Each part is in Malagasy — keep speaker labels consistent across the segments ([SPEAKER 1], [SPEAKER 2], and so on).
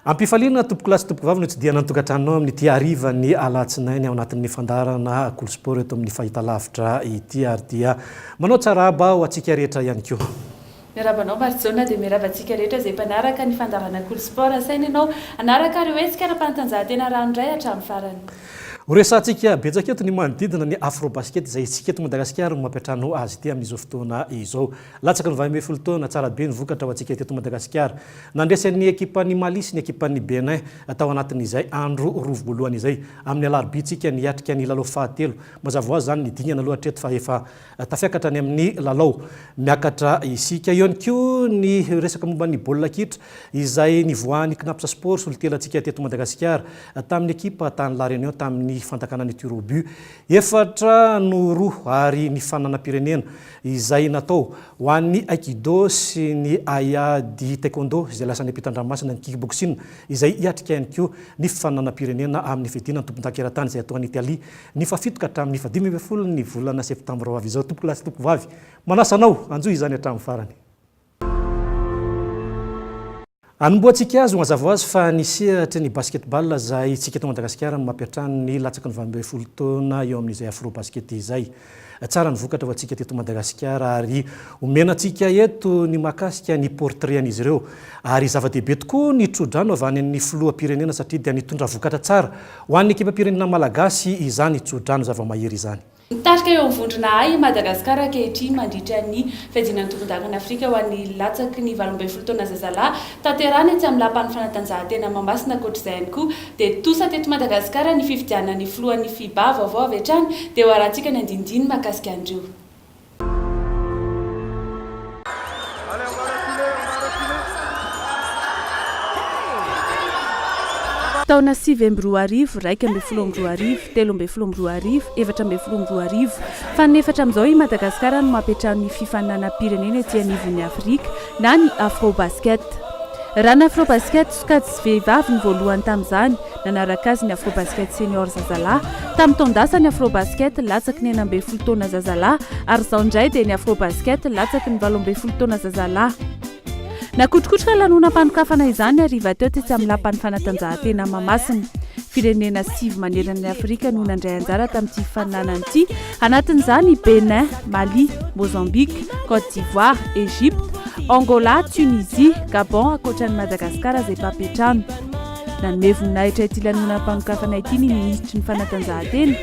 [SPEAKER 1] Ampifaliana tompokolahy sy tompokovavy ny hotsidihana ny tokantranonao amin'ity harivan'ny alatsinainy ao anatin'ny fandaharana Kolo Sport eto amin'ny Fahitalavitra ity ary dia manao tsara haba ho antsika rehetra ihany koa. Miarahaba anao
[SPEAKER 2] Marijaona dia miarahaba antsika rehetra izay mpanaraka ny fandaharana Kolo Sport asaina ianao hanaraka ireo hetsika ara-panatanjahantena ranoray hatramin'ny farany. Horesahantsika
[SPEAKER 1] betsaka eto ny manodidina ny Afrobasket izay isika eto Madagasikara no mampiantrano azy ity amin'izao fotoana izao. Latsaka ny valo ambin'ny folo taona, tsara be ny vokatra ho antsika teto Madagasikara. Nandresen'ny ekipan'i Mali sy ny ekipan'i Bénin tao anatin'izay andro roa voalohany izay. Amin'ny alarobintsika niatrika ny lalao fahatelo. Mazava ho azy izany ny dingana aloha hatreto fa efa tafiakatra any amin'ny lalao miakatra isika. Eo ihany koa ny resaka momba ny baolina kitra izay nivoahan'ny Cnaps Sport solontenantsika teto Madagasikara tamin'ny ekipa tany La Réunion tamin'ny fandakanan'ny tir au but efatra no roa ary ny fananam-pirenena izay natao ho an'ny Aikido sy ny Aia Di Taekwondo izay lasan'ny ampitan-dranomasina ny Kickboxing izay hiatrika ihany koa ny fifaninanam-pirenena amin'ny fidinana ny tompondaka eran-tany izay atao any Italie ny fahafito ka hatramin'ny fahadimy ambin'ny folo ny volana septambra ho avy izao. Tompokolasy tompokovavy manasa anao hanjohy izany hatramin'ny farany. Anombohantsika azy ho mazava ho azy fa ny sehatry ny basketball izay tsika eto Madagasikara no mampiantrano ny latsaky ny valo ambin'ny folo taona eo amin'izay Afrobasket izay. Tsara ny vokatra ho antsika teto Madagasikara ary omena antsika eto ny mahakasika ny portrait an'izy ireo ary zava-dehibe tokoa ny tsodrano avy any amin'ny filoham-pirenena satria dia nitondra vokatra tsara ho an'ny ekipam-pirenena malagasy izany tsodrano zava-mahery izany. Mitarika eo amin'ny vondrona
[SPEAKER 2] A i Madagasikara ankehitriny mandritra ny fiadiana ny tovon-dakan'i Afrika ho an'ny latsaky ny valo ambin'ny folo taona zazalahy tanterahina etsy amin'ny lapan'ny fanatanjahantena Mahamasina. Ankoatr'izay ihany koa dia tosa teto Madagasikara ny fifidianana ny filohan'ny Fiba vaovao avy hatrany dia ho arahantsika ny andinindininy mahakasika an'ireo Taona sivy amby roa arivo, iraika ambin'ny folo amby roa arivo, telo ambin'ny folo amby roa arivo, efatra ambin'ny folo amby roa arivo. Fanefatra amin'izao i Madagasikara no mampiantrano ny fifaninanam-pirenena ety anivon'ny Afrika na ny Afrobasket. Raha ny Afrobasket, sokajy sy vehivavy no voalohany tamin'izany, Nanaraka azy ny Afrobasket Senior Zazalahy, tamin'ny taon-dasa ny Afrobasket latsaky ny enina ambin'ny folo taona Zazalahy ary izao indray dia ny Afrobasket latsaky ny valo ambin'ny folo taona Zazalahy. Nakotrokotroka lanonam-panokafana izany hariva teo tetsy amin'ny Lapan'ny fanatanjahantena Mahamasina. Firenena sivy manerana an'i Afrika no nandray anjara tamin'ity fifaninanana ity, anatin'izany i Bénin, Mali, Mozambique, Côte d'Ivoire, Egypte, Angola, Tunisie, Gabon ankoatra an'i Madagasikara izay mpampiantrano. Nanome voninahitra ity lanonam-panokafana ity ny minisitry ny Fanatanjahantena,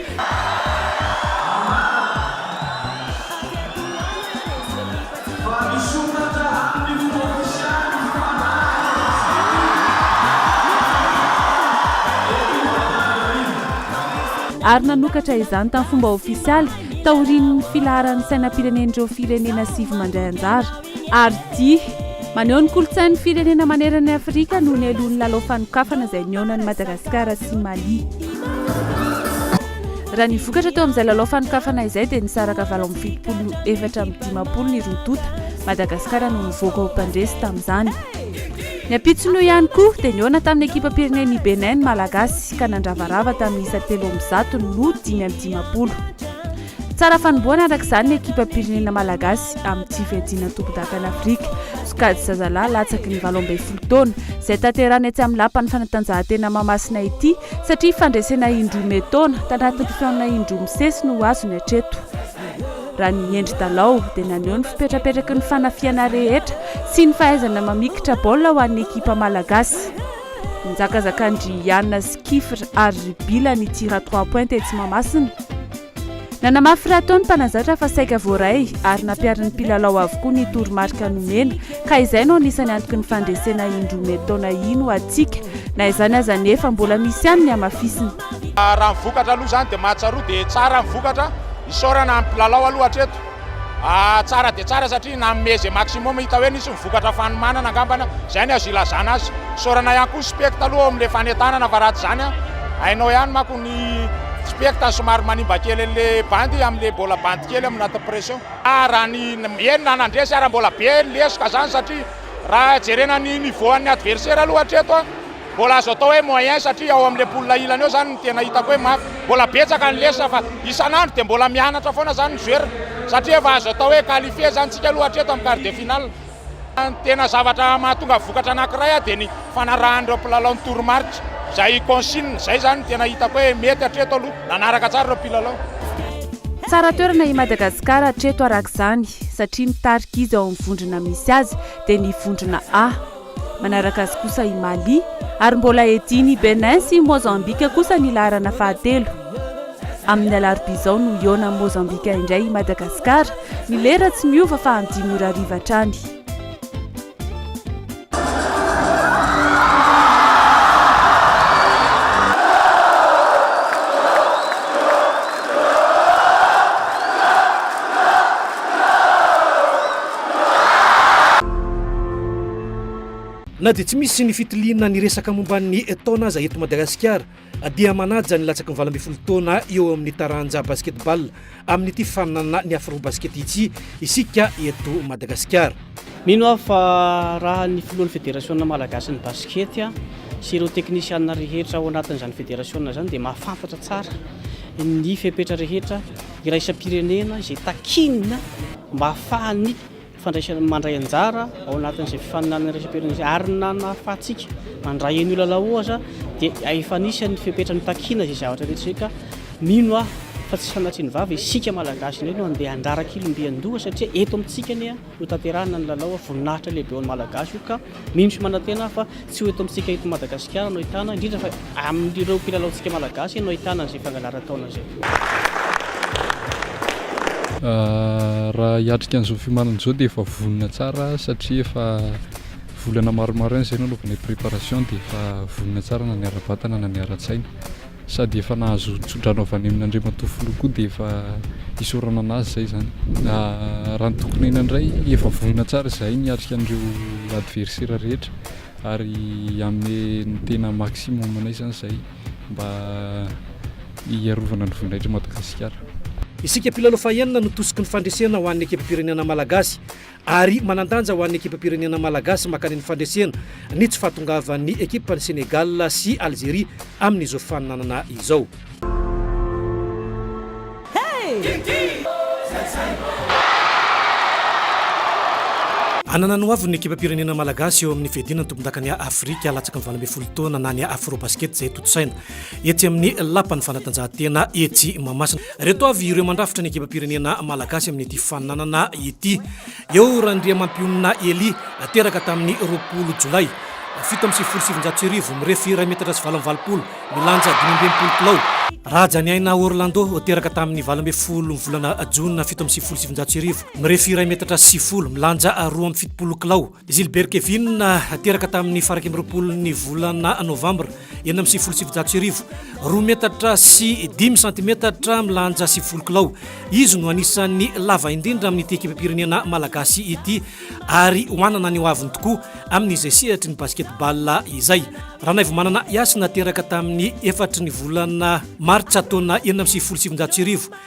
[SPEAKER 2] ary nanokatra izany tamin'ny fomba ofisialy taorian'ny filaharan'ny sainam-pirenen'ireo firenena sivy mandray anjara. Ardi. Maneho ny kolontsain'ny firenena manerana an'i Afrika no nialohan'ny lalao fanokafana izay nihaona an'i Madagasikara sy Mali. Raha ny vokatra teo amin'izay lalao fanokafana izay dia nisaraka valo amby fitopolo no efatra amby dimampolo ny roa tonta. Madagasikara no nivoaka ho mpandresy tamin'izany. Ny ampitson'io ihany koa dia nihaona tamin'ny ekipam-pirenen'i Bénin ny Malagasy ka nandravarava tamin'ny isa telo amby zato no dimy amby dimampolo. Tsara fanombohana araka izany ny ekipam-pirenena malagasy amin'ny tsy fiadiana tompondakan'Afrika. Sokajy zazalahy latsaky ny valo ambin'ny folo taona izay tanterahina etsy amin'ny lapan'ny fanatanjahantena Mahamasina ity satria fandresena indroa mietaona tanatin'ny taona indroa misesy no azony hatreto. Raha ny Hendry Dalao dia naneho ny fipetrapetraky ny fanafihana rehetra sy ny fahaizana mamikitra baolina ho an'ny ekipa malagasy. Nizakazakan-dry Iana sy Kifr ary ry Bila ny tir trois points tetsy Mahamasina. Nanamafy raha teo ny mpanazatra fa saika voaray ary nampiharin'ny mpilalao avokoa ny toromarika nomena ka izay no anisan'ny antoky ny fandresena indroa mety taona iny ho antsika. Na izany aza anefa, mbola misy ihany ny hamafisina. Raha ny vokatra
[SPEAKER 3] aloha izany dia mahatsiaroa dia tsara ny vokatra. Isaorana ny mpilalao aloha hatreto. Tsara dia tsara satria nanome ze maximum hita hoe nisy ny vokatra fanomanana angambany zay ny azo ilazana azy. Isaorana ihany koa ny spect aloha ao amin'le fanentanana fa raha tsy zany hainao ihany manko ny spect somary manimba kely an'le bandy amin'le mbola bandy kely amin'ny anatin'ny pression. Raha ny eny na nandresy ara mbola be ny lesoka zany satria raha jerena ny niveau an'ny adversaire aloha hatreto a. Mbola azo atao hoe moyen satria ao amin'le poule ilany eo zany no tena hitako hoe mafy. Mbola betsaka ny lesona fa isan'andro dia mbola mianatra foana zany ny joueur satria efa azo atao hoe qualifier zany tsika aloha hatreto amin'ny quart de finale. Ny tena zavatra mahatonga vokatra anakiray dia ny fanarahan'ireo mpilalao ny toromarika, izay consigne, izay zany no tena hitako hoe mety hatreto aloha, nanaraka tsara ireo mpilalao. Tsara
[SPEAKER 2] toerana i Madagascar hatreto arak'izany satria mitarika izy ao amin'ny vondrona misy azy dia ny vondrona A. Manaraka azy kosa i Mali, ary mbola edin'i Bénin sy Mozambika kosa ny laharana fahatelo. Amin'ny alarobia izao no hihaona amin'i Mozambika indray i Madagasikara. Ny lera tsy miova fa amin'ny dimy ora hariva hatrany.
[SPEAKER 1] Na dia tsy misy ny fitiliana ny resaka momba ny taona aza eto Madagasikara dia manaja ny latsaky ny valo ambin'ny folo taona eo amin'ny taranja Basketball amin'ity faninanana ny Afrobasket ity isika eto Madagasikara. Mino aho fa
[SPEAKER 4] raha ny filohan'ny federasiona malagasin'ny basket sy ireo teknisiana rehetra ao anatin'izany federasiona izany dia mahafantatra tsara ny fepetra rehetra iraisam-pirenena izay takiana mba hahafahan'ny fandraisana mandray anjara ao anatin'izay fifaninanana iraisam-pirenena izay ary nanahafahantsika mandray an'io lalao io aza dia efa anisan'ny fepetra nitakiana izay zavatra rehetra izay ka mino aho fa tsy sanatria ny vava isika malagasy indray no andeha handrara kilombian-doha satria eto amintsika anie no tanterahana ny lalao voninahitra lehibe ho an'ny malagasy io ka Mino sy manantena aho fa tsy ho eto amintsika eto Madagasikara no ahitana, indrindra fa amin'ireo mpilalaontsika Malagasy no ahitana an'izay fangalaran-taona izay.
[SPEAKER 5] Raha hiatrika an'izao fiomanana izao dia efa vonona tsara satria efa volana maromaro ihany izay nanaovana préparation dia efa vonona tsara na ny ara-batana na ny ara-tsaina. Sady efa nahazo tso-drano avy any amin'Andriamatoa Filoha koa dia efa isaorana an'azy izay izany. Raha ny tokin'aina indray, efa vonona tsara izahay ny hiatrika an'ireo adversera rehetra ary hanome ny tena maximum anay izany izahay mba hiarovana ny voninahitry Madagasikara. Isika mpilalao
[SPEAKER 1] fahenina no tosiky ny fandresena ho an'ny ekipam-pirenena malagasy. ary manan-danja ho an'ny ekipam-pirenena malagasy makany amin'ny fandresena ny tsy fahatongavan'ny ekipan'i Sénégal sy Algérie amin'izao fifaninanana izao. Hanana ny ho aviny ny ekipam-pirenena malagasy eo amin'ny fiadiana ny tompondakan'i Afrika latsaky ny valo ambin'ny folo taona na ny Afrobasket izay tontosaina etsy amin'ny lapan'ny fanatanjahantena etsy Mahamasina. Ireto avy ireo mandrafitra ny ekipam-pirenena malagasy amin'ity fananana ity. Eo Randriamampionona Elie, teraka tamin'ny roapolo jolay fito amby sivifolo sy sivinjato sy arivo, mirefy iray metatra sy valo amby valopolo, milanja dimy amby enimpolo kilao. Rajaniaina Orlando, teraka tamin'ny valo ambin'ny folo ny volana jona fito amby sivifolo sy sivinjato sy arivo, mirefy iray metatra sy sivifolo, milanja roa amby fitopolo kilao. Gilbert Kevin, teraka tamin'ny faran'ny amby roapolon'ny volana novambra enina amby sivifolo sy sivinjato sy arivo, roa metatra sy dimy santimetatra, milanja sivifolo kilao. Izy no anisan'ny lava indrindra amin'ity ekipam-pirenena malagasy ity ary hoanana ny hoaviny tokoa amin'izay sehatry ny basket-ball izay. Ranaivomanana Yasina, teraka tamin'ny efatry ny volana martsa taona enina amby sivifolo sy sivinjato sy arivo,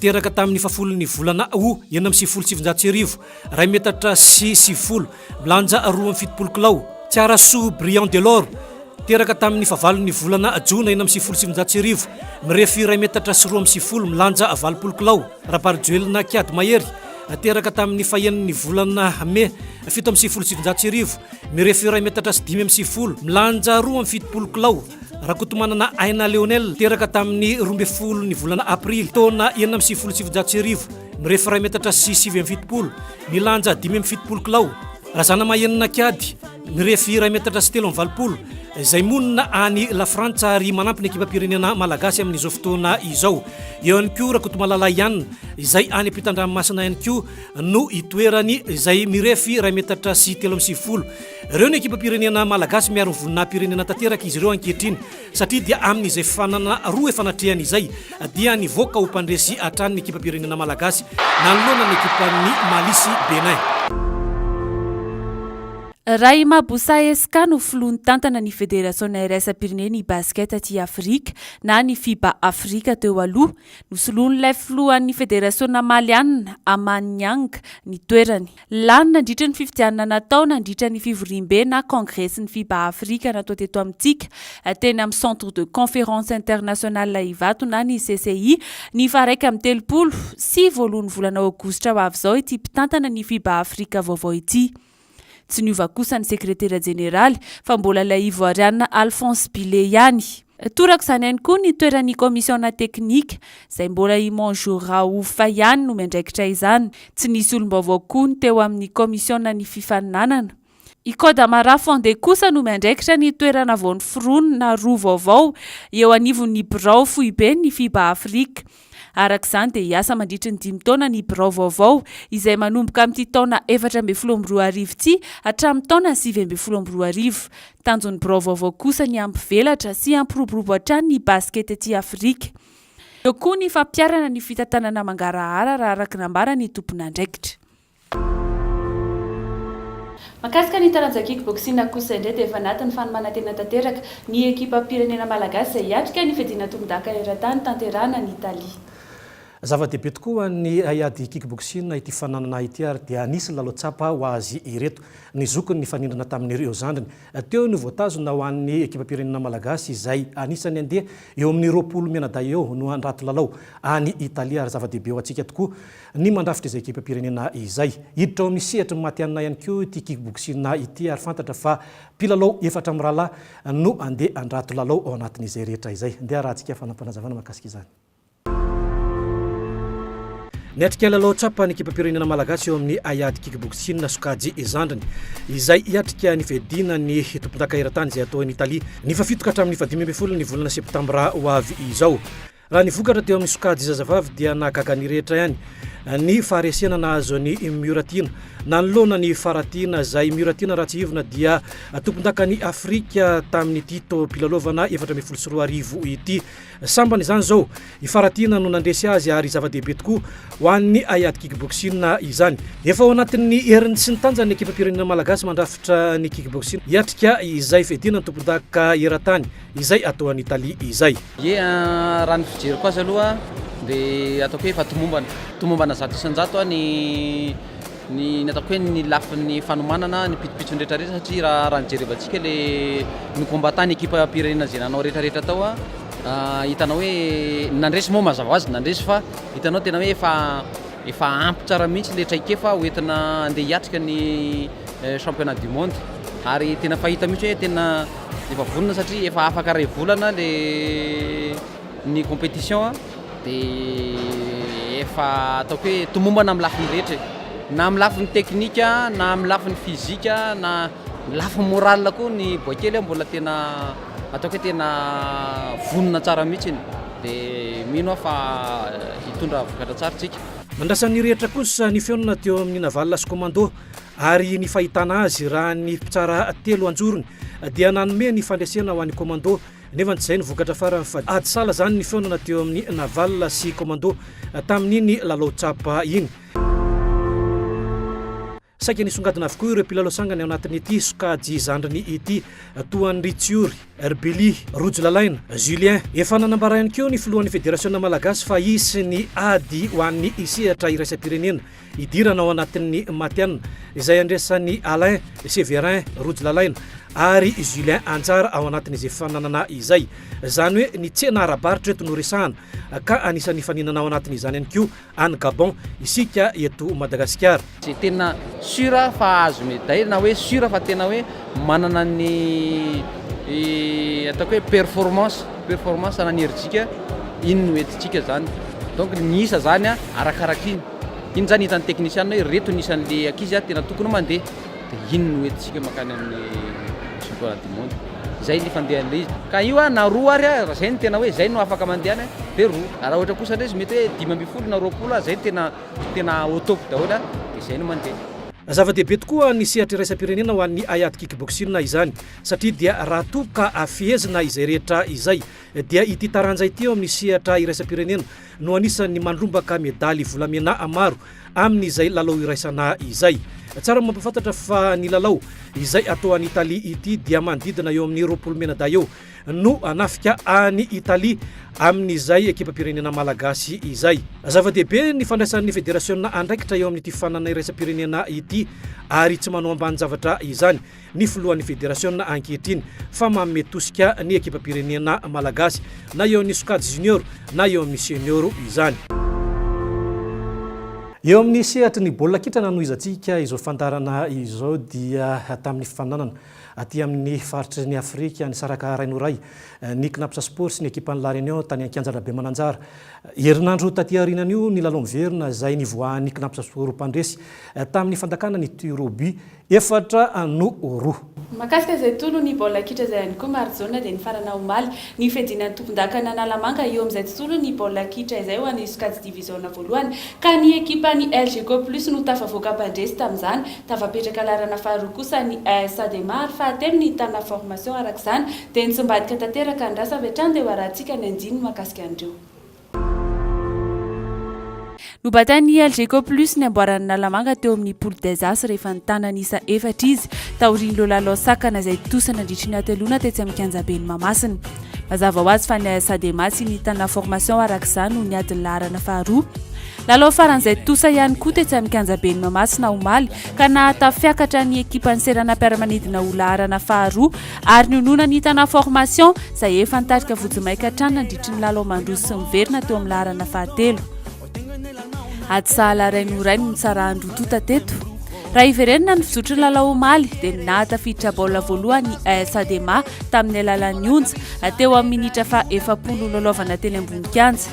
[SPEAKER 1] Teraka tamin'ny fahafolon'ny volana Août enina amby sivifolo sy sivinjato sy arivo, iray metatra sy sivifolo, milanja roa amby fitopolo kilao, Tsiarasoa Briand Delord, teraka tamin'ny fahavalon'ny volana Jona enina amby sivifolo sy sivinjato sy arivo, mirefy iray metatra sy roa amby sivifolo, milanja valopolo kilao, Raparijoelina Kiady Mahery, teraka tamin'ny fahenon'ny volana Mai fito amby sivifolo sy sivinjato sy arivo, mirefy iray metatra sy dimy amby sivifolo, milanja roa amby fitopolo kilao. Rakotomanana Aina Lionel, teraka tamin'ny roa ambin'ny folo ny volana aprily, taona enina amby sivifolo sy sivinjato sy arivo, mirefy iray metatra sy sivy amby fitopolo, milanja dimy amby fitopolo kilao. Razanamahenina Kiady, mirefy iray metatra sy telo amby valopolo, izay monina any Lafrantsa ary manampy ny ekipam-pirenena malagasy amin'izao fotoana izao. Eo ihany koa Rakotomalala Yann, izay any ampitan-dranomasina ihany koa no itoerany, izay mirefy iray metatra sy telo amby sivifolo. Ireo ny ekipam-pirenena malagasy miaro ny voninahim-pirenena tanteraka izy ireo ankehitriny satria dia amin'izay fanana roa efa natrehany izay dia nivoaka ho mpandresy hatrany ny ekipam-pirenena malagasy nanoloana ny ekipan'ny Mali sy Bénin.
[SPEAKER 2] Rahima Boussa Esca no filoha nitantana ny federasionina iraisam-pirenen'ny basket aty Afrika na ny Fiba Afrika teo aloha. Nosoloin'ilay filohan'ny federasionina malianina, Amani Niang, ny toerany. Lany nandritry ny fifidianana natao nandritra ny fivoriambe na kongresin'ny Fiba Afrika natao teto amintsika, teny amin'ny Centre de Conférence Internationale Ivato na ny CCI, ny faharaika amby telopolo sy voalohan'ny volana aogositra ho avy izao ity mpitantana ny Fiba Afrika vaovao ity. Tsy niova kosa ny sekretera jeneraly fa mbola ilay Ivoarianina Alphonse Bile ihany. Toraka izany ihany koa ny toeran'ny kaomisiona teknika, izay mbola i Monjour Raouf ihany no miandraikitra izany. Tsy nisy olom-baovao koa ny teo amin'ny kaomisionan'ny fifaninanana. I Kodama Rafonde kosa no miandraikitra ny toerana vao noforonina roa vaovao eo anivon'ny birao foiben'ny Fiba Afrika. Araka izany dia hiasa mandritry ny dimy taona ny birao vaovao, izay manomboka amin'ity taona efatra ambin'ny folo amby roa arivo ity hatramin'ny taona sivy ambin'ny folo amby roa arivo. Tanjon'ny birao vaovao kosa ny hampivelatra sy hampiroborobo hatrany ny basikety aty Afrika. Eo koa ny fampiharana ny fitantanana mangarahara raha araka ny nambaran'ny tomponandraikitra. Mahakasika ny taranja kick boxing kosa indray dia efa anatin'ny fanomanan-tena tanteraka ny ekipam-pirenena malagasy izay hiatrika ny fiadiana tombondaka eran-tany tanterahana any Italie. Zava-dehibe
[SPEAKER 1] tokoa ho an'ny haiady kick boxing ity fananana ity ary dia anisin'ny lalao tsapa ho azy ireto. Ny zokiny nifanindrina tamin'ireo zandriny teo no voatazona ho an'ny ekipam-pirenena malagasy izay anisan'ny handeha eo amin'ny roapolo mianadahy eo no handrato lalao any Italie ary zava-dehibe ho antsika tokoa Ny mandrafitra izay ekipam-pirenena izay. Hiditra ao amin'ny sehatry ny matihanina ihany koa ity kickboxing ity ary fantatra fa mpilalao efatra mirahalahy no handeha handrato lalao ao anatin'izay rehetra izay. Ndeha harahantsika fanapanazavana mahakasika izany. Niatrika lalao tsapa ny ekipam-pirenena malagasy eo amin'ny haiady kickboxing sokajy zandriny izay hiatrika ny fiadiana ny tompondaka eran-tany izay hatao eny Italia ny fahafito ka hatramin'ny fahadimy ambin'ny folo ny volana septambra ho avy izao. Raha ny vokatra teo amin'ny sokajy zazavavy dia nahagaga ny rehetra ihany ny faharesena nahazo an'i Miora Tiana. Nanoloana ny Fara Tiana, izay Miora Tiana Ratsihivina dia tompondakan'i Afrika tamin'ity taom-pilalaovana efatra ambin'ny folo sy roa arivo ity. Sambany izany izao, i Fara Tiana no nandresy azy ary zava-dehibe tokoa ho an'ny haiady kickboxing izany. Efa ao anatin'ny heriny sy ny tanjany ny ekipam-pirenena malagasy mandrafitra ny kickboxing hiatrika izay fiadiana ny tompondakanka eran-tany. Izay atao any Italie izay. Ye a, raha ny
[SPEAKER 6] fijeriko azy aloha dia ataoko hoe efa tomombana, tomombana zato isan-jato a, ny ny ny ataoko hoe ny lafiny fanomanana, ny pitopitsony retraretra satria raha raha ny jerevantsika le ny combattants ny ekipam-pirenena izay nanao retraretra tao a, hitanao hoe ny nandresy moa mazava ho azy nandresy fa hitanao tena hoe efa efa ampy tsara mihitsy le traikefa ho entina andeha hiatrika ny championnat du monde ary tena fahita mihitsy hoe tena Efa vonona satria efa afaka ray volana le ny competition de efa ataoko hoe tomombana amin'ny lafiny rehetra e. Na amin'ny lafiny teknika, na amin'ny lafiny fizika, na ny lafiny morale koa ny boaikely aho mbola tena ataoko hoe tena vonona tsara mihitsy de mino aho fa hitondra vokatra tsara tsika. Nandrasan'ny rehetra
[SPEAKER 1] kosa ny feona teo amin'ny Naval sy Commando Ary ny fahitana azy raha ny mpitsara telo anjorony dia nanome ny fandresena ho an'i Commando nefa tsy izay no vokatra farany fa ady sala izany ny fihaonana teo amin'ny Naval sy Commando tamin'iny lalao tsapa iny. Saika nisongadina avokoa ireo mpilalao sangany ao anatin'ity sokajy zandriny ity toa an'i Ritsiory, Rbili, Rojo Lalaina, Julien. Efa nanambara ihany koa ny filohan'ny Federasiona Malagasy fa hisy ny ady ho an'ny sehatra iraisam-pirenena. hidirana ao anatin'ny Matin, izay andraisan'i Alain Severin Rojo Lalaina ary Julien Anjara ao anatin'izy efa nanana izay. Izany hoe ny tsena ara-barotra eto no resahana, ka anisan'ny hifaninana ao anatin'izany ihany koa any Gabon isika eto Madagasikara. Izay tena
[SPEAKER 6] sur fa azo medaille na hoe sur fa tena hoe manana ny ataoko hoe performance, performance anan'Herijika, iny no entintsika izany. Donc ny miisa izany arakaraky iny. Iny zany hitan'ny teknisianina hoe reto ny isan'le ankizy ary tena tokony mandeha de iny no hoentintsika mankany amin'ny championnat du monde. Zay ny fandehan'le izy. Ka io a na roa ary a raha zay no tena hoe zay no afaka mandehana de roa. Raha ohatra kosa ndray izy mety hoe dimy ambin'ny folo na roapolo ary zay no tena tena au top daholo a de zay no mandeha. Zava-dehibe
[SPEAKER 1] tokoa ny sehatra iraisam-pirenena ho an'ny haiady kickboxing izany satria dia raha toa ka fehezina izay rehetra izay dia ity taranja ity eo amin'ny sehatra iraisam-pirenena no anisan'ny mandrombaka medaly volamena maro amin'izay lalao iraisana izay. Tsara mampahafantatra fa ny lalao izay atao any Italie ity dia manodidina eo amin'ny roapolo mena-dahy eo no hanafika any Italie amin'izay ekipam-pirenena malagasy izay. Zava-dehibe ny fandraisan'ny federasiona andraikitra eo amin'ity fanana iraisam-pirenena ity ary tsy manao ambanin-javatra izany ny filohan'ny federasiona ankehitriny fa manome tosika ny ekipam-pirenena malagasy na eo amin'ny sokajy junior na eo amin'ny senior izany. Eo amin'ny sehatry ny baolina kitra nanohizantsika izao fandaharana izao dia tamin'ny fifaninanana aty amin'ny faritry ny Afrika nisaraka ray noho ray ny Cnaps Sport sy ny ekipan'ny La Réunion tany an-kianja Rabemananjara. Herinandro taty aorianan'io nilalao miverina izay nivoahan'ny Cnaps Sport mpandresy tamin'ny fandakana ny tir au but efatra no roa. Mahakasika
[SPEAKER 2] izay tolon'ny baolina kitra izay ihany koa Marijaona dia nifarana omaly ny fiadiana ny tompondakan'i Analamanga eo amin'izay tontolon'ny baolina kitra izay ho an'ny sokajy diviziona voalohany ka ny ekipan'ny Elgeco Plus no tafavoaka mpandresy tamin'izany. Tafapetraka laharana faharoa kosa ny AS Adema ary fahatelo ny Tana Formation arak'izany dia nitsimbadika tanteraka ny rasa avy hatrany dia ho arahantsika ny andininy mahakasika an'ireo Nobatain'ny Algeco Plus ny amboaran'i Nalamanga teo amin'ny Poule des As rehefa nitana ny isa efatra izy taorian'ireo lalao sakana izay tontosa nandritry ny hateloana tetsy amin'ny kianjaben'i Mahamasina. Mazava ho azy fa ny AS Adema sy ny Tana Formation araka izany no niady ny laharana faharoa. Lalao faran'izay tontosa ihany koa tetsy amin'ny kianjaben'i Mahamasina omaly ka nahatafiakatra ny ekipan'ny seranam-piaramanidina ho laharana faharoa ary nionona ny Tana Formation izay efa nitarika vojimaika hatrany nandritry ny lalao mandroso sy miverina teo amin'ny laharana fahatelo. Ady sahala iray no iray no nitsarahan'ny roa tonta teto. Raha hiverenana ny fizotry ny lalao omaly dia ny nahatafiditra baolina voalohany ny AS Adema tamin'ny alalan'ny Onja teo amin'ny minitra faha efapolo nilalaovana teny ambony kianja.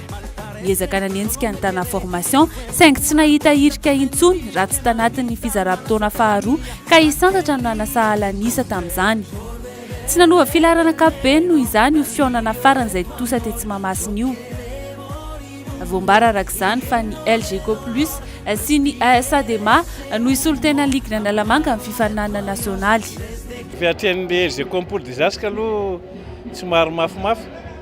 [SPEAKER 2] Niezaka nanenjika ny Tana Formation saingy tsy nahita hirika intsony raha tsy tanatin'ny fizaram-potoana faharoa ka i Sandratra no nanasahala ny isa tamin'izany. Tsy nanova filaharana ankapobeny noho izany io fihaonana farany izay tontosa tetsy Mahamasina io. Voambara araka izany fa ny Elgeco Plus sy ny AS Adema no hisolo tena ligina Analamanga amin'ny fifaninanana nasionaly. Efa hatrehin'ny
[SPEAKER 7] Elgeco Pool Dizaska aloha tsy maro mafimafy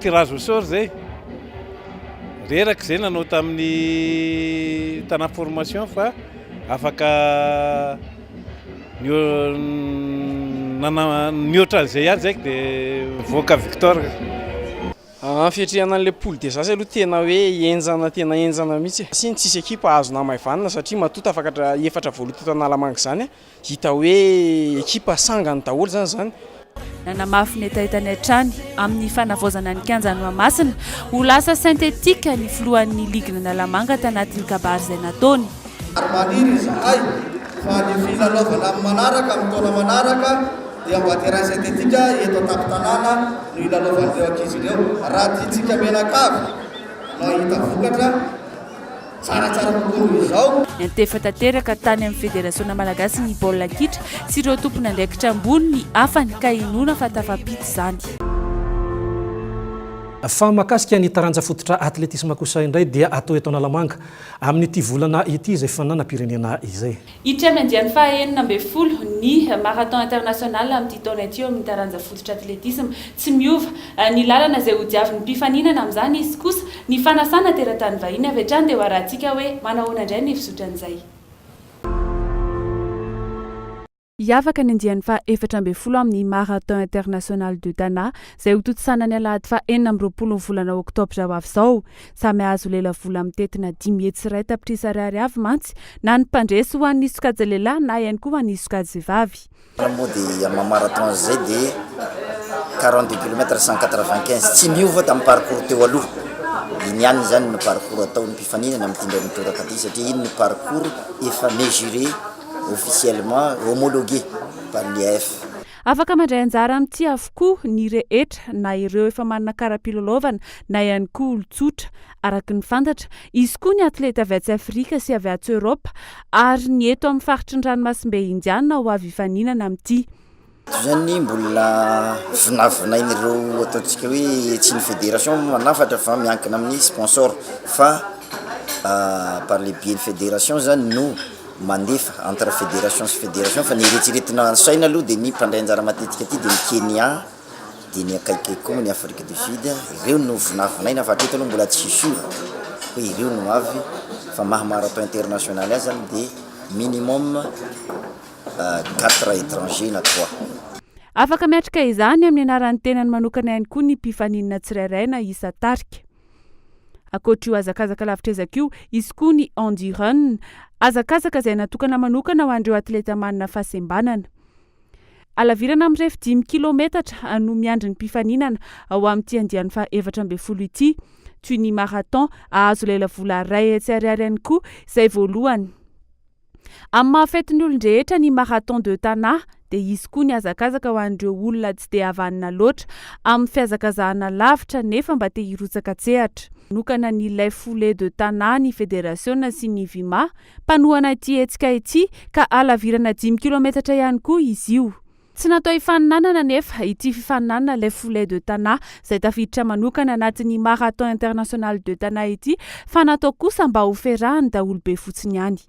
[SPEAKER 7] Tirage au sort zay, reraka zay nanao tamin'ny tanà formation fa afaka mihoatra an'izay ihany zay dia mivoaka victor. Amin'ny
[SPEAKER 8] fiatrehana an'ilay poule des as aloha tena hoe henjana tena henjana mihitsy e. Tsisy équipe hahazo namaivanina satria matoa tafakatra efatra voaloha teto Analamanga izany. Hita hoe ekipa sangany daholo izany izany. Nanamafy
[SPEAKER 2] ny hetahetany hatrany amin'ny fanavaozana ny kianja Noamasina ho lasa synthétique ny filohan'ny ligin'Analamanga tanatin'ny kabary izay nataony. Maniry
[SPEAKER 9] izahay fa ny filalaovana amin'ny manaraka amin'ny taona manaraka dia mba terrain synthétique eto an-tampon-tanàna no hilalaovan'ireo ankizy ireo raha tiantsika mianakavy no hahita vokatra. Tsaratsara kokoa noho izao. Niantefa tanteraka
[SPEAKER 2] tany amin'ny Federasiona malagasin'ny baolina kitra sy ireo tompon'andraikitra ambony ny hafany ka inoana fa tafampita izany.
[SPEAKER 1] Fa mahakasika ny taranja fototra atletisma kosa indray dia atao eto Analamanga amin'ity volana ity izay fifaninanam-pirenena izay. Hiditra amin'ny andiany faha
[SPEAKER 2] enina ambin'ny folo ny Marathon International amin'ity taona ity eo amin'ny taranja fototra atletisma. Tsy miova ny lalana izay hodiavin'ny mpifaninana amin'izany izy kosa ny fanasana teratany vahiny. Avy hatrany dia ho arahintsika hoe manao ahoana indray ny fizotra an'izay. Hiavaka ny andiany faha efatra ambin'ny folo amin'ny Marathon International de Dana izay hotontsisana ny alahady faha enina amby roapolo ny volana oktobra ho avy izao. Samy hahazo lela vola mitentina dimy hetsy iray tapitrisa ariary avy mantsy na ny mpandresy ho an'ny sokajy lehilahy na ihany koa ho an'ny sokajy vavy. Raha moa dia amin'ny
[SPEAKER 10] marathon izay dia quarante deux kilomètres cent quatre vingt quinze tsy miova tamin'ny parcours teo aloha. Iny ihany izany ny parcours ataon'ny mpifaninana amin'ity indray mitoraka ity satria iny ny parcours efa mesuré officiellement, homologué par l'IAAF. Afaka
[SPEAKER 2] mandray anjara amin'ity avokoa ny rehetra, na ireo efa manana kara-pilalaovana na ihany koa olon-tsotra. Araka ny fantatra, hisy koa ny atleta avy atsy Afrika sy avy atsy Eoropa ary ny eto amin'ny faritry ny ranomasimbe Indiana ho avy hifaninana amin'ity. Toy izany,
[SPEAKER 10] mbola vinavinain'ireo ataontsika hoe tsy ny federation no manafatra fa miankina amin'ny sponsor fa par le biais ny federation izany no. mandefa entre fédération sy fédération fa ny eretsiretina saina aloha dia ny mpandray anjara matetika aty dia ny Kenya dia ny akaiky koa ny Afrique du Sud ireo no vinavinaina fa hatreto aloha mbola tsy sûr hoe ireo no avy fa maha marathon international azy zany dia minimum euh, quatre étrangers na trois Afaka miatrika
[SPEAKER 2] izany amin'ny anaran'ny tenany manokana ihany koa ny mpifaninana tsirairay na isa tarika. Ankoatr'io hazakazaka lavitr'ezaka io, hisy koa ny Endurun, hazakazaka izay natokana manokana ho an'ireo atleta manana fahasembanana. Halavirana mirefy dimy kilaometatra no miandry ny mpifaninana ao amin'ity andiany fahaefatra ambin'ny folo ity. Toy ny marathon, hahazo lelavola iray hetsy ariary ihany koa izay voalohany. Amin'ny maha fetin'ny olon-drehetra ny Marathon de Tana dia hisy koa ny hazakazaka ho an'ireo olona tsy dia havanana loatra amin'ny fihazakazahana lavitra nefa mba te hirotsaka an-tsehatra. Nanokana ny Les Foulées de Tana ny federasiona sy ny Vima mpanohana ity hetsika ity ka halavirana dimy kilaometatra ihany koa izy io. Tsy natao hifaninanana anefa ity fifaninanana Les Foulées de Tana izay tafiditra manokana anatin'ny Marathon International de Tana ity fa natao kosa mba ho ferahan'ny daholobe fotsiny ihany.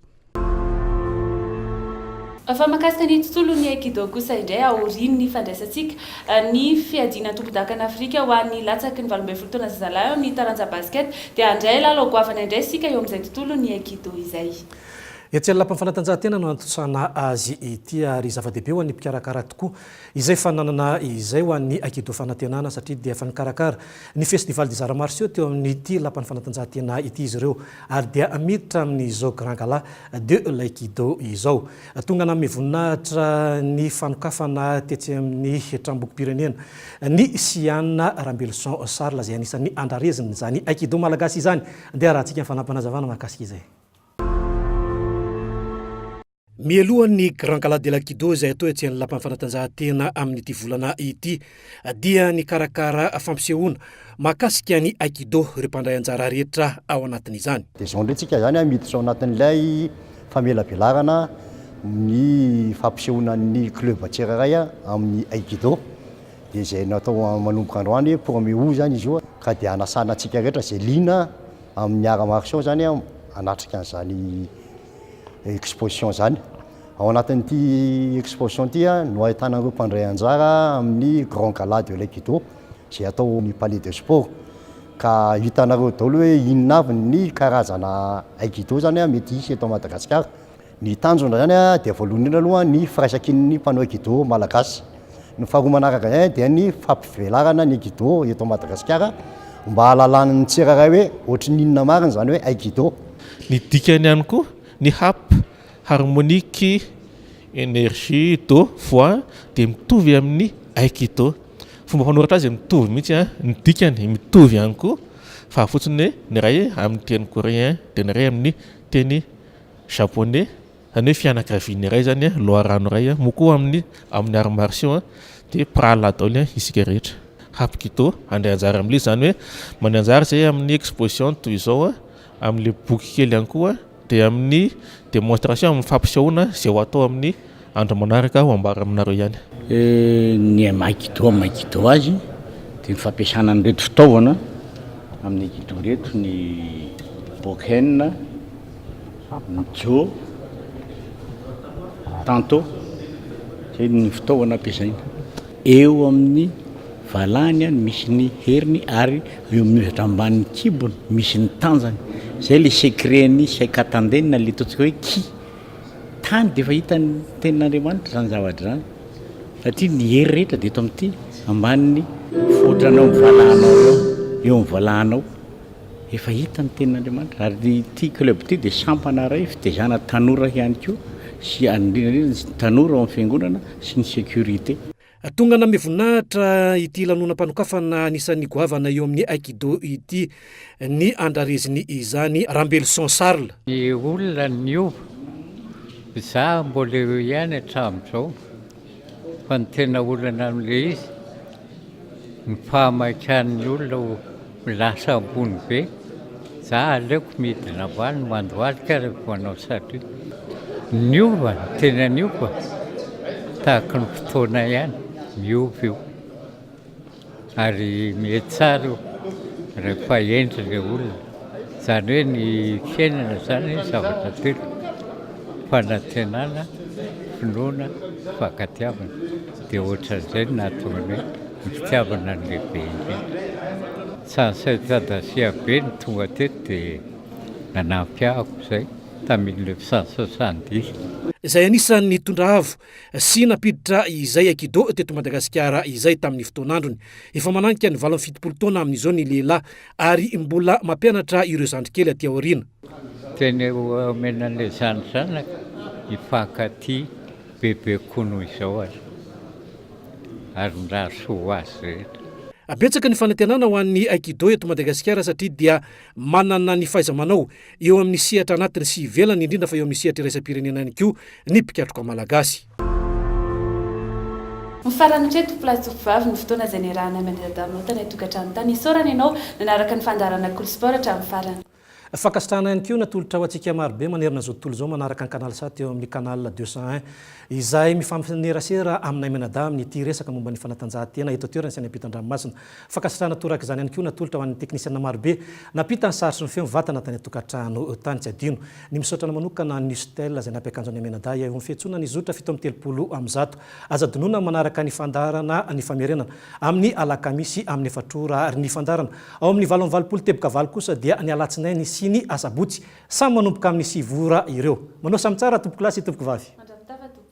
[SPEAKER 2] Fa mahakasika ny tontolon'ny Aikido kosa indray aorian'ny fandraisantsika ny fiadiana antompon-dakana Afrika ho an'ny latsaky ny valo ambin'ny folo taona zazalahy ao amin'ny taranja Basket dia handray lalao goavana indray isika eo amin'izay tontolon'ny Aikido izay. Etsy amin'ny lapan'ny
[SPEAKER 1] fanatanjahantena no antontosana azy ity ary zava-dehibe ho an'ny mpikarakara tokoa izay fananana izay ho an'ny Aikido Fanantenana satria dia efa nikarakara ny Festival des Arts Martiaux teo amin'ity lapan'ny fanatanjahantena ity izy ireo ary dia miditra amin'izao Grand Gala de l'Aikido izao. Tonga nanome voninahitra ny fanokafana tetsy amin'ny Tranombokim-pirenena ny Siana Rambeloson Charles izay anisan'ny andrarezina izany Aikido Malagasy izany. Andeha arahantsika ny fanampin'Azavana mahakasika izay. Mialohan'ny Grand Gala de la Kido izay atao etsy amin'ny Lapan'ny Fanatanjahantena amin'ity volana ity dia nikarakara fampisehoana mahakasika ny Aikido ireo mpandray anjara rehetra ao anatin'izany. Dia izao indray tsika izany
[SPEAKER 11] miditra ao anatin'ilay famelabelarana ny fampisehoanan'ny club tsirairay amin'ny Aikido. Dia izay natao manomboka androany pour me où izany izy io ka dia hanasana antsika rehetra izay liana Amin'ny Arts Martiaux izany aho hanatrika an'izany exposition izany. Ao anatin'ity exposition ity no ahitana ireo mpandray anjara amin'ny Grand Gala de l'Aikido izay atao ao amin'ny Palais de Sport. Ka hitanareo daholo hoe inona avy ny karazana Aikido izany mety hisy eto Madagasikara. Ny tanjona izany dia voalohany indrindra aloha ny firaisankin'ny mpanao aikido malagasy. Ny faharoa manaraka izay dia ny fampivelarana ny aikido eto Madagasikara mba hahalalan'ny tsirairay hoe ohatrin'inona marina izany hoe aikido. Ny dikany
[SPEAKER 7] ihany koa ny hap, harmonic energy do, voix dia mitovy amin'ny aikido. Fomba fanoratra azy mitovy mihitsy ny dikany, mitovy ihany koa fa fotsiny hoe ny iray amin'ny teny coréen dia ny iray amin'ny teny Japonais, zany hoe fianakaviana iray zany a, loharano iray a, moa koa amin'ny amin'ny arts martiaux a dia mpirahalahy daholo isika rehetra. Hapkido, handray anjara amin'ilay izy, zany hoe mandray anjara izay amin'ny exposition toy izao a, amin'ilay boky kely ihany koa dia amin'ny demonstration, amin'ny fampisehoana izay ho atao amin'ny Andro manaraka aho hambara aminareo ihany. Ny
[SPEAKER 12] Aikido amin'ny Aikido azy dia ny fampiasana an'ireto fitaovana amin'ny Aikido ireto, ny Bokken, ny Jo, Tanto, izay no fitaovana ampiasaina. Eo amin'ny valahany no misy ny heriny ary eo amin'ny ohatra ambanin'ny kibony misy ny tanjany. Izay ilay secret-n'ny Saikatanden na ilay ataontsika hoe Ki. tany dia efa hitan'ny tenin'Andriamanitra izany zavatra izany satria ny hery rehetra dia eto amin'ity ambanin'ny fotranao ny valanao eo eo ny valanao efa hita ny tenin'Andriamanitra ary ny ity club ity dia sampana iray fitezana tanora ihany koa sy indrindra indrindra ny tanora ao amin'ny fiangonana sy ny sécurité. Tonga nanome
[SPEAKER 1] voninahitra ity lanonam-panokafana anisan'ny goavana eo amin'ny Aikido ity ny andrareziny izany Rambeloson Charles. Ny olona
[SPEAKER 13] niova, izaho mbola eo ihany hatramin'izao fa ny tena olana amin'ilay izy ny fahamaikahan'ny olona Lasa ambony be. Za aleoko midina valiny mandohalika rehefa manao salut. Niova, tena niova. Tahaka ny fotoana ihany, miova io. Ary mety tsara io rehefa hendry le olona. Zany hoe ny fiainana zany zavatra telo, fanantenana, finoana, fankatiavana. Dia ohatran'izay no nahatonga ny hoe ny fitiavana no lehibe indrindra. Tsy an'i Saint Adasia be no tonga teto dia nanampy ahy akorizay tamin'ilay fisasasan-dihy. Izay
[SPEAKER 1] anisan'ny nitondra avo sy nampiditra izay aikido teto Madagasikara izay tamin'ny fotoan'androny. Efa mananika ny valo amby fitopolo taona amin'izao ny lehilahy ary mbola mampianatra ireo zandrikely aty aoriana. Tena eo
[SPEAKER 13] omena an'ilay zany zanaka hifankatia bebe kokoa noho izao aza. Ary mirary soa ho azy rehetra. Betsaka ny
[SPEAKER 1] fanantenana ho an'ny Aikido eto Madagasikara satria dia manana ny fahaiza-manao eo amin'ny sehatra anatiny sy ivelany indrindra fa eo amin'ny sehatra iraisam-pirenena ihany koa ny mpikatroka malagasy. Ho
[SPEAKER 2] farany hatreto, Plat Tsofovavy, ny fotoana izay niarahanay mandiladalana ota any an-tokantrano tany. Isaorana ianao nanaraka ny fandaharana Cool Sport hatramin'ny farany. Fankasitrahana ihany
[SPEAKER 1] koa ny atolotrao antsika marobe manerana izao tontolo izao manaraka ny Canal sat eo amin'ny Canal deux cent un izay mifanerasera aminay mianadahy amin'ity resaka momba ny fanatanjahantena eto an-toerana sy any ampitan-dranomasina. Fankasitrahana torak'izany ihany koa ny atolotra ho an'ny teknisiana marobe nampita ny sary sy ny feo mivantana tany an-tokantrano tany. Tsy adino ny misaotra anao manokana an'i Nustel izay nampy akanjo anay mianadahy eo amin'ny fiantsoana ny zotra fito amby telopolo amin'ny zato. Aza adinoina ny manaraka ny fandaharana ny famerenana amin'ny alakamisy amin'ny efatra ora ary ny fandaharana Ao amin'ny valo amby valopolo teboka valo kosa dia ny alatsinainy sy ny asabotsy. Samy manomboka amin'ny sivy ora ireo. Manao samy tsara tompokolahy sy tompokovavy. Mandravitava tompoko.